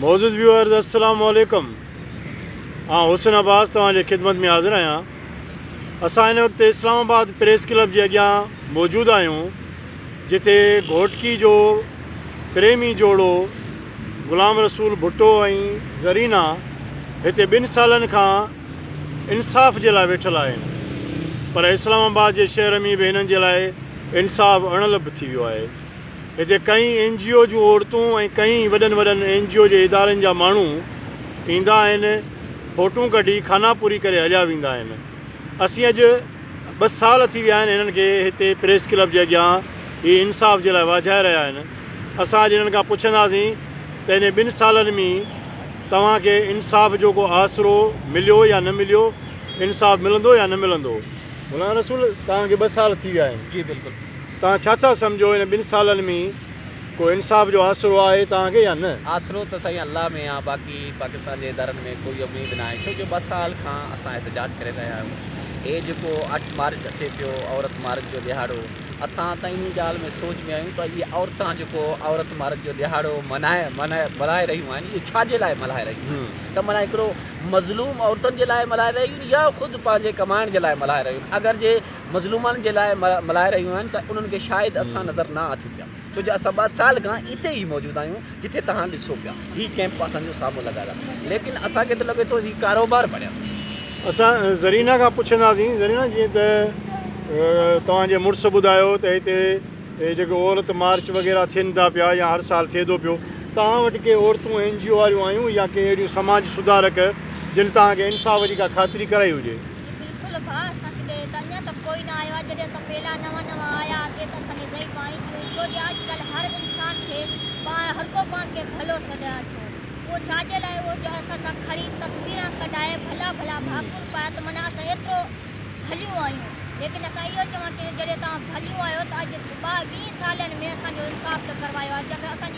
معزز ويوئرز السلام عليڪم آئون حسن عباس توهان جي خدمت ۾ حاضر آهيان اسان هن وقت اسلام آباد پريس ڪلب جي اڳيان موجود آهيون جتي گهوٽڪي جو پريمي جوڙو غلام رسول ڀٽو ۽ زرينا هتي ٻن سالن کان انصاف جي لاء ويٺل آهن پر اسلام آباد جي شهر ۾ به هنن جي لاء انصاف اڻ لڀ ٿي ويو آهي هتي ڪئين اين جي او جون عورتون ۽ ڪئين وڏن وڏن اين جي او جي ادارن جا ماڻهو ايندا آهن فوٽون ڪڍي خانا پوري ڪري هليا ويندا آهن اسين اڄ ٻه سال ٿي ويا آهن هنن کي هتي پريس ڪلب جي اڳيان هي انصاف جي لاء واجهائي رهيا آهن اسان اڄ هنن کان پڇنداسين ته انهي ٻن سالن مين توهان کي انصاف جو ڪو آسرو مليو يا نه مليو انصاف ملندو يا نه ملندو؟ مولانا رسول توهان کي ٻه سال ٿي ويا آهن جي بلڪل. توهان ڇا ٿا سمجهو هن ٻن سالن ۾ ڪو انصاف جو آسرو آهي توهان کي يا نه؟ آسرو ته سائين الله ۾ آ باقي پاڪستان جي ادارن ۾ ڪوئي اميد ناهي ڇو جو ٻه سال کان اسان احتجاج ڪري رهيا آهيون هي جيڪو اٺ مارچ اچي پيو عورت مارچ جو ڏهاڙو اسان ته انهي ڳالهه ۾ سوچ ۾ آهيون ته اهي عورتان جيڪو عورت مارچ جو ڏهاڙو منائي منائي ملهائي رهيون آهن اهي ڇا جي لاء ملهائي رهيون آهن ته معنيٰ هڪڙو مظلوم عورتن جي لاء ملهائي رهيون يا خود پنهنجي ڪمائڻ جي لاء ملهائي رهيون اگر جي مظلومن جي لاء ملهائي رهيون آهن ته انهن کي شايد اسان نظر نه اٿيون پيا ڇو جو اسان ٻه سال کان اتي ئي موجود آهيون جتي توهان ڏسو پيا هي ڪيمپ اسان جو سامهون لڳل آهي ليڪن اسان کي ته لڳي ٿو هي ڪاروبار بڻيل آهي. اسان زرينه کان پڇنداسين زرينه جيئن ته توهان جي مڙس ٻڌايو ته هتي هي جيڪي عورت مارچ وغيره ٿين ٿا پيا يا هر سال ٿئي ٿو پيو توهان وٽ ڪي عورتون اين جي او واريون آيون يا ڪي اهڙيون سماج سڌارڪ جن توهان کي انصاف جي ڪا خاطري ڪرائي هجي. جي بلڪل ڀاء اسان کي ڏي ته اڃان ته ڪوئي نه آيو آهي جڏهن اسان پيلا نوان نوان آيا هئاسين ته اسان کي زئي پاڻي ٿي هئي ڇو جي اڄ ڪلهه هر انسان کي پاڻ هر ڪو پاڻ کي ڀلو سڏيان ٿو اهو ڇا جي لاء اهو جو اسان سان کڻي تصويران ڪڍائي ڀلا ڀلا ڀاڪر پائي ته معنيٰ اسان ايترو ڀليون آهيون ليڪن اسان اهو چوڻ چاهيون جڏهن توهان ڀليون آهيو ته اڄ ٻه ويهه سالن ۾ اسان جو انصاف ته ڪروايو آهي جيڪر اسان جي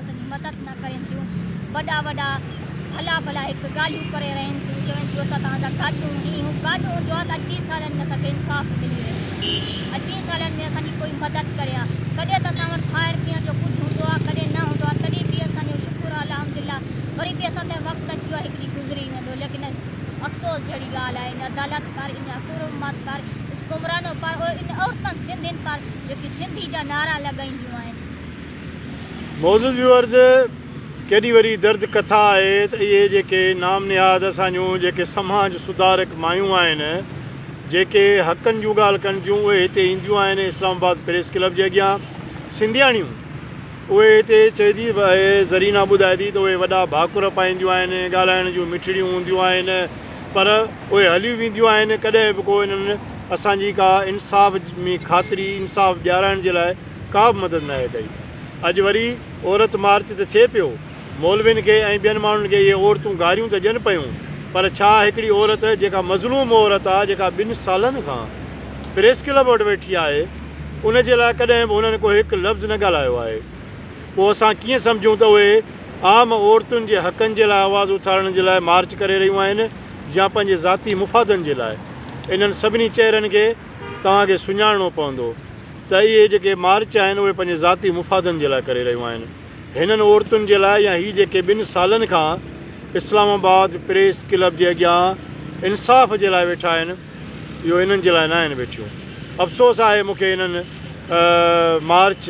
اسان جي مدد نه ڪرين ٿيون وڏا وڏا ڀلا ڀلا هڪ ڳالهيون ڪري رهين ٿيون چون ٿيون اسان توهان جا گاڏو هي هو گاڏو هو جو آ ته اڄ ٻي سالن ۾ اسان کي انصاف ملي ويندو اڄ ٻي سالن ۾ اسان جي ڪوئي مدد ڪري ها ڪڏهن ته اسان وٽ کائڻ پيئڻ جو ڪجهه هوندو آ ڪڏهن نه هوندو آ تڏهن به اسان جو شڪر آ الحمدلله وري به اسان تي وقت اچي ويو آ هڪ ڏينهن گذري ويندو ليڪن افسوس جهڙي ڳالهه آ ان عدالت پر ان حڪومت پر حڪمرانو پر ان عورتن سنڌين پر جيڪي سنڌي جا نعرا لڳائينديون آهن معزز ويورز ڪيڏي وڏي درد ڪٿا آهي ته اهي جيڪي نام نهاد اسان جون جيڪي سماج سڌارڪ مايون آهن جيڪي حقن جون ڳالهه ڪن ٿيون اهي هتي اينديون آهن اسلام آباد پريس ڪلب جي اڳيان سنڌياڻيون اهي هتي چئدي زرينا ٻڌائي ٿي ته اهي وڏا ڀاڪر پائينديون آهن ڳالهائڻ جون مٺڙيون هونديون آهن پر اهي هليون وينديون آهن ڪڏهن به ڪو انهن اسان جي ڪا انصاف ۾ خاطري انصاف ڏيارائڻ جي لاء ڪا به مدد ناهي ڪئي. اڄ وري عورت مارچ ته ٿئي پيو. مولوين کي ۽ ٻين ماڻهن کي اهي عورتون گاريون ته ڏين پيون پر ڇا هڪڙي عورت جيڪا مظلوم عورت آ جيڪا ٻن سالن کان پريس ڪلب وٽ ويٺي آهي ان جي لاء ڪڏهن به هنن ڪو هڪ لفظ نه ڳالهايو آهي پوء اسان ڪيئن سمجهون ته اهي عام عورتن جي حقن جي لاء آواز اٿارڻ جي لاء مارچ ڪري رهيون آهن يا پنهنجي ذاتي مفادن جي لاء. انهن سڀني چهرن کي توهان کي سڃاڻڻو پوندو. ته اهي جيڪي مارچ آهن اهي پنهنجي ذاتي مفادن جي لاء ڪري رهيون آهن هنن عورتن جي لاء يا هي جيڪي ٻن سالن کان اسلام آباد پريس ڪلب جي اڳيان انصاف جي لاء ويٺا آهن اهو انهن جي لاء ناهن ويٺيون افسوس آهي مون کي انهن مارچ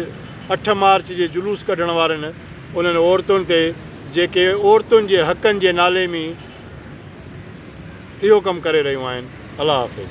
اٺ مارچ جي جلوس ڪڍڻ وارن انهن عورتن تي جيڪي عورتن جي حقن جي نالي مي اهو ڪم ڪري رهيون آهن الله حافظ.